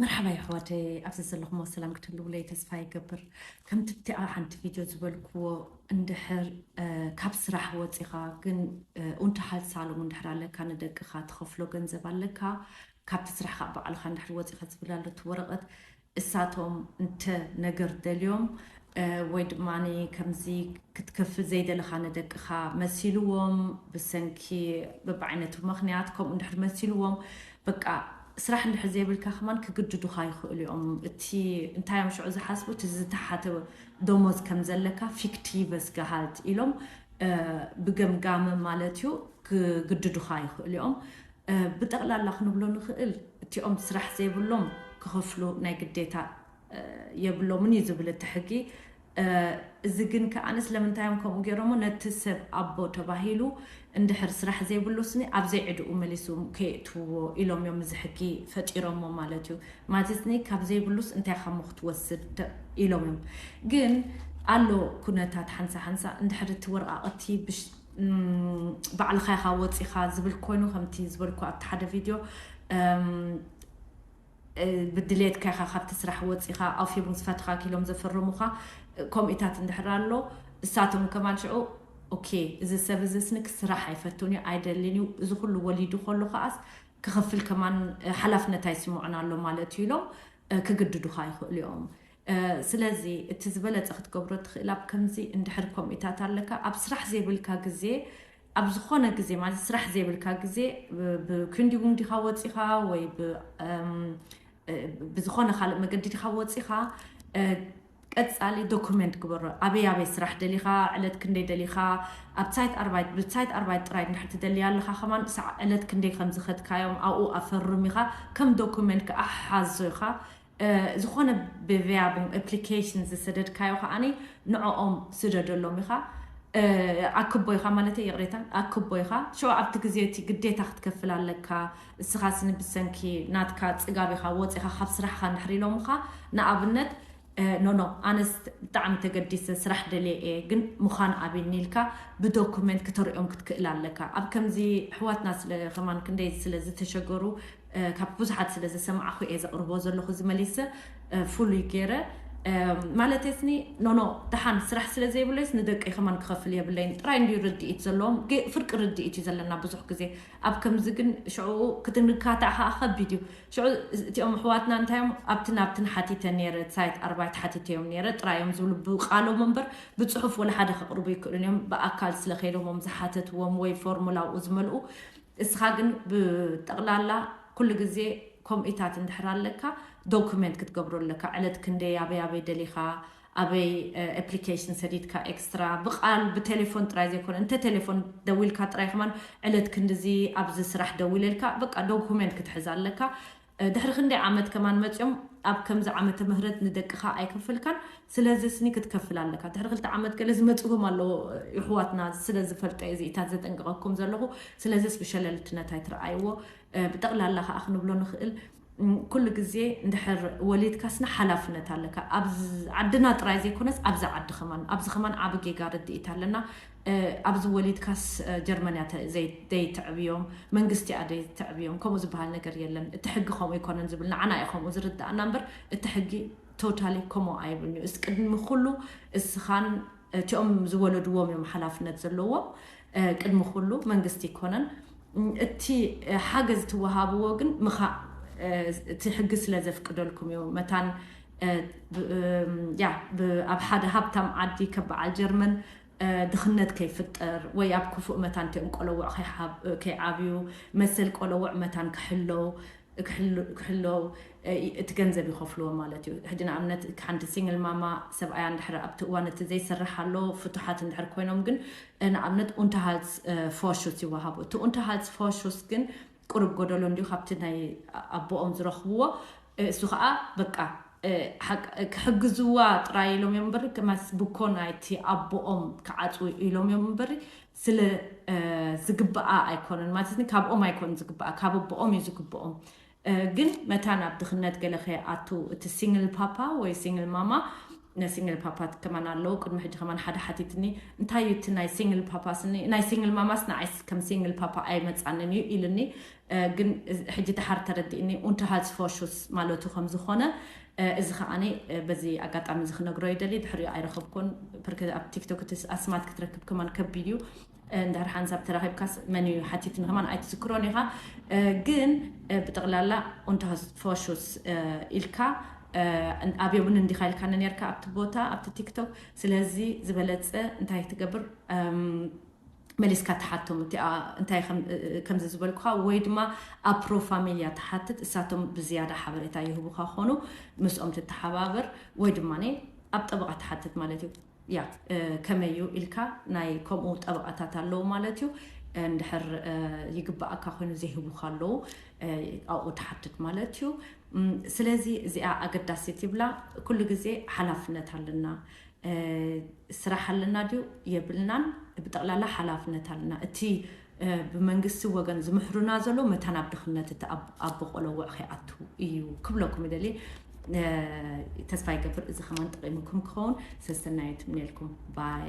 መርሓባ የሕዋተይ ኣብዚ ዘለኹሞ ሰላም ክትህልውለይ ተስፋ ይገብር ከምቲ ብቲኣ ሓንቲ ቪድዮ ዝበልክዎ እንድሕር ካብ ስራሕ ወፂኻ ግን ኡንተሃል ሳሎም እንድሕር ኣለካ ንደቅኻ ትኸፍሎ ገንዘብ ኣለካ ካብቲ ስራሕኻ ባዕልኻ እንድሕር ወፂኻ ዝብል ኣሎ እቲ ወረቐት እሳቶም እንተ ነገር ደልዮም ወይ ድማ ከምዚ ክትከፍል ዘይደለኻ ንደቅኻ መሲልዎም ብሰንኪ በብዓይነቱ ምኽንያት ከምኡ እንድሕር መሲልዎም በቃ ስራሕ እንድሕር ዘይብልካ ከማን ክግድዱኻ ይኽእሉ እዮም። እቲ እንታይ እዮም ሽዑ ዝሓስቡ እቲ ዝተሓተ ደሞዝ ከም ዘለካ ፊክቲቨስ ገሃልት ኢሎም ብገምጋም ማለት እዩ ክግድዱኻ ይኽእሉ እዮም። ብጠቕላላ ክንብሎ ንኽእል እቲኦም ስራሕ ዘይብሎም ክኸፍሉ ናይ ግዴታ የብሎምን እዩ ዝብል እቲ ሕጊ። እዚ ግን ከኣ ስለምንታይ እዮም ከምኡ ገይሮሞ ነቲ ሰብ ኣቦ ተባሂሉ እንድሕር ስራሕ ዘይብሉ ስኒ ኣብ ዘይዕድኡ መሊሱ ከየእትውዎ ኢሎም እዮም እዚ ሕጊ ፈጢሮሞ ማለት እዩ። ማለት ስኒ ካብ ዘይብሉስ እንታይ ኢኻሞ ክትወስድ ኢሎም እዮም። ግን ኣሎ ኩነታት ሓንሳ ሓንሳ እንድሕር እቲ ወረቓቕቲ ባዕልኻ ኢኻ ወጺኻ ዝብል ኮይኑ ከምቲ ዝበልኩ ኣብቲ ሓደ ቪድዮ ብድሌትካ ኢኻ ካብቲ ስራሕ ወጺኻ ኣውፊርም ዝፈትኻ ኪሎም ዘፈርሙኻ ከምኡታት እንድሕር ኣሎ እሳቶም ከማን ሽዑ ኦኬ እዚ ሰብ እዚ ስንክ ስራሕ ኣይፈቱን እዩ ኣይደልን እዩ እዚ ኩሉ ወሊዱ ከሎ ከዓስ ክኸፍል ከማን ሓላፍነት ኣይስምዑን ኣሎ ማለት እዩ ኢሎም ክግድዱኻ ይኽእሉ እዮም ስለዚ እቲ ዝበለጸ ክትገብሮ ትኽእል ኣብ ከምዚ እንድሕር ኮሚታት ኣለካ ኣብ ስራሕ ዘይብልካ ግዜ ኣብ ዝኾነ ግዜ ማለት ስራሕ ዘይብልካ ግዜ ብክንዲ እውን ዲኻ ወፂኻ ወይ ብዝኾነ ካልእ መገዲ ዲኻ ወፂኻ ቀጻሊ ዶኩመንት ግበሮ ኣበይ ኣበይ ስራሕ ደሊኻ ዕለት ክንደይ ደሊኻ ኣብ ሳይት ኣርባይት ብሳይት ኣርባይት ጥራይ እንድሕር ትደልያ ኣለኻ ከማን ሳዕ ዕለት ክንደይ ከም ዝኸድካዮም ኣብኡ ኣፈርም ኢኻ ከም ዶኩመንት ከዓ ሓዞ ኢኻ ዝኾነ ብቪያ ኣፕሊኬሽን ዝሰደድካዮ ከኣ ንዕኦም ስደደሎም ኢኻ ኣክቦ ኢኻ ማለት ይቕሬታ ኣክቦ ኢኻ ሸ ኣብቲ ግዜ እቲ ግዴታ ክትከፍል ኣለካ እስኻ ስኒ ብሰንኪ ናትካ ፅጋብ ኢኻ ወፂኻ ካብ ስራሕኻ ንድሕሪ ኢሎምኻ ንኣብነት ኖኖ ኣነስ ብጣዕሚ ተገዲሰ ስራሕ ደልየ እየ ግን ምዃን ኣቢኒ ኢልካ ብዶኩመንት ክተርእዮም ክትክእል ኣለካ ኣብ ከምዚ ኣሕዋትና ስለ ከማን ክንደይ ስለ ዝተሸገሩ ካብ ብዙሓት ስለ ዝሰማዕኹ እየ ዘቕርቦ ዘለኹ እዚ መሊሰ ፍሉይ ገይረ ማለተይስኒ ኖኖ ደሓን ስራሕ ስለ ዘይብለይስ ንደቀይ ከማን ክኸፍል የብለይን ጥራይ እንድዩ ርድኢት ዘለዎም ፍርቂ ርድኢት እዩ ዘለና ብዙሕ ግዜ ኣብ ከምዚ ግን ሽዕኡ ክትንካታዕ ከዓ ከቢድ እዩ ሽዑ እቲኦም ኣሕዋትና እንታዮም ኣብቲ ናብትን ሓቲተ ነይረ ሳይት ኣርባይት ሓቲተዮም ነይረ ጥራይ እዮም ዝብሉ ብቃሎም እምበር ብፅሑፍ ወላ ሓደ ከቕርቡ ይክእሉን እዮም ብኣካል ስለ ከይዶሞም ዝሓተትዎም ወይ ፎርሙላኡ ዝመልኡ እስኻ ግን ብጠቕላላ ኩሉ ግዜ ኮምኢታት እንድሕር ኣለካ ዶኩመንት ክትገብሮ ኣለካ ዕለት ክንደይ ኣበይ ኣበይ ደሊኻ ኣበይ ኣፕሊኬሽን ሰዲድካ ኤክስትራ ብቃል ብቴሌፎን ጥራይ ዘይኮነ እንተ ቴሌፎን ደዊልካ ጥራይ ከማን ዕለት ክንድዚ ኣብዚ ስራሕ ደዊለልካ በቃ ዶኩመንት ክትሕዝ ኣለካ ድሕሪ ክንደይ ዓመት ከማን መጽዮም ኣብ ከምዚ ዓመተ ምህረት ንደቅካ ኣይከፈልካን ስለዚ ስኒ ክትከፍል ኣለካ ድሕሪ ክልተ ዓመት ገለ ዝመጽዎም ኣለዎ ይሕዋትና ስለ ዝፈልጦ እየ ዝኢታት ዘጠንቅቀኩም ዘለኹ ስለዚስ ብሸለልትነት ኣይትርኣይዎ ብጠቅላላ ከኣ ክንብሎ ንኽእል ኩሉ ግዜ እንድሕር ወሊድካ ስኒ ሓላፍነት ኣለካ ኣብ ዓድና ጥራይ ዘይኮነስ ኣብዚ ዓዲ ከማን ኣብዚ ከማን ዓቢ ጌጋ ርድኢት ኣለና ኣብዚ ወሊድካስ ጀርመን እያ ደይተዕብዮ መንግስቲ እያ ደይተዕብዮ ከምኡ ዝበሃል ነገር የለን እቲ ሕጊ ከምኡ ኣይኮነን ዝብል ንዓና እዩ ከምኡ ዝርዳእና እምበር እቲ ሕጊ ቶታሊ ከምኡ ኣይብልንዩ እስ ቅድሚ ኩሉ እስኻን እቲኦም ዝወለድዎም እዮም ሓላፍነት ዘለዎም ቅድሚ ኩሉ መንግስቲ ይኮነን እቲ ሓገዝ ትወሃብዎ ግን ምኻእ እቲ ሕጊ ስለ ዘፍቅደልኩም እዩ መታን ያ ኣብ ሓደ ሃብታም ዓዲ ከበዓል ጀርመን ድኽነት ከይፍጠር ወይ ኣብ ክፉእ መታን እቲኦም ቆለውዕ ከይዓብዩ መሰል ቆለውዕ መታን ክሕለው ክሕለው እቲ ገንዘብ ይኸፍልዎ ማለት እዩ ሕጂ ንኣብነት ሓንቲ ሲንግል ማማ ሰብኣያ እንድሕር ኣብቲ እዋን እቲ ዘይሰርሕ ኣሎ ፍቱሓት እንድሕር ኮይኖም ግን ንኣብነት ኡንተሃልስ ፎርሹስ ይወሃቡ እቲ ኡንተሃልስ ፎርሹስ ግን ቁሩብ ጎደሎ እንድዩ ካብቲ ናይ ኣቦኦም ዝረኽብዎ እሱ ከኣ በቃ ክሕግዝዋ ጥራይ ኢሎም እዮም እምበሪ ከማስ ብኮ ናይቲ ኣቦኦም ክዓጽው ኢሎም እዮም እምበሪ ስለ ዝግብኣ ኣይኮነን ማለት ካብኦም ኣይኮን ዝግብኣ ካብ ኣቦኦም እዩ ዝግብኦም ግን መታን ኣብ ድኽነት ገለ ከይኣቱ እቲ ሲንግል ፓፓ ወይ ሲንግል ማማ ናይ ሲንግል ፓፓት ከማን ኣለዉ ቅድሚ ሕጂ ከማን ሓደ ሓቲትኒ እንታይ እዩ እቲ ናይ ሲንግል ፓፓስ ናይ ሲንግል ማማስ ንዓይስ ከም ሲንግል ፓፓ ኣይመጻንን እዩ ኢልኒ ግን ሕጂ ድሓር ተረዲእኒ ኡንተ ሃዝ ፎሹስ ማለቱ ከም ዝኾነ እዚ ከዓኒ በዚ ኣጋጣሚ እዚ ክነግሮ ይደሊ ድሕሪኡ ኣይረኸብኩን ፕርክ ኣብ ቲክቶክ እቲ ኣስማት ክትረክብ ከማን ከቢድ እዩ እንድሕር ሓንሳብ ተራኺብካስ መን እዩ ሓቲት ንኸማን ኣይትዝክሮን ኢኻ ግን ብጠቕላላ ኡንታስ ፎሹስ ኢልካ ኣብዮብን እንዲኻ ኢልካኒ ነርካ ኣብቲ ቦታ ኣብቲ ቲክቶክ ስለዚ ዝበለጸ እንታይ ክትገብር መሊስካ ትሓቶም እቲኣ እንታይ ከምዚ ዝበልኩኻ ወይ ድማ ኣብ ፕሮፋሚልያ ትሓትት እሳቶም ብዝያዳ ሓበሬታ ይህቡኻ ኾኑ ምስኦም ትተሓባበር ወይ ድማ ኣብ ጠበቓ ትሓትት ማለት እዩ ያእ ከመይ እዩ ኢልካ ናይ ከምኡ ጠበቓታት ኣለዉ ማለት እዩ እንድሕር ይግባኣካ ኮይኑ ዘይህቡካ ኣለዉ ኣብኡ ትሓትት ማለት እዩ ስለዚ እዚኣ ኣገዳሲት ይብላ ኩሉ ግዜ ሓላፍነት ኣለና ስራሕ ኣለና ድዩ የብልናን ብጠቕላላ ሓላፍነት ኣለና እቲ ብመንግስቲ ወገን ዝምሕሩና ዘለው መታን ኣብ ድኽነት እቲ ኣቦ ቆለውዕ ከይኣቱ እዩ ክብለኩም ይደልየ ተስፋ ይገብር እዚ ከማን ጠቂሙኩም ክኸውን ሰሰናዩ ትምነልኩም ባይ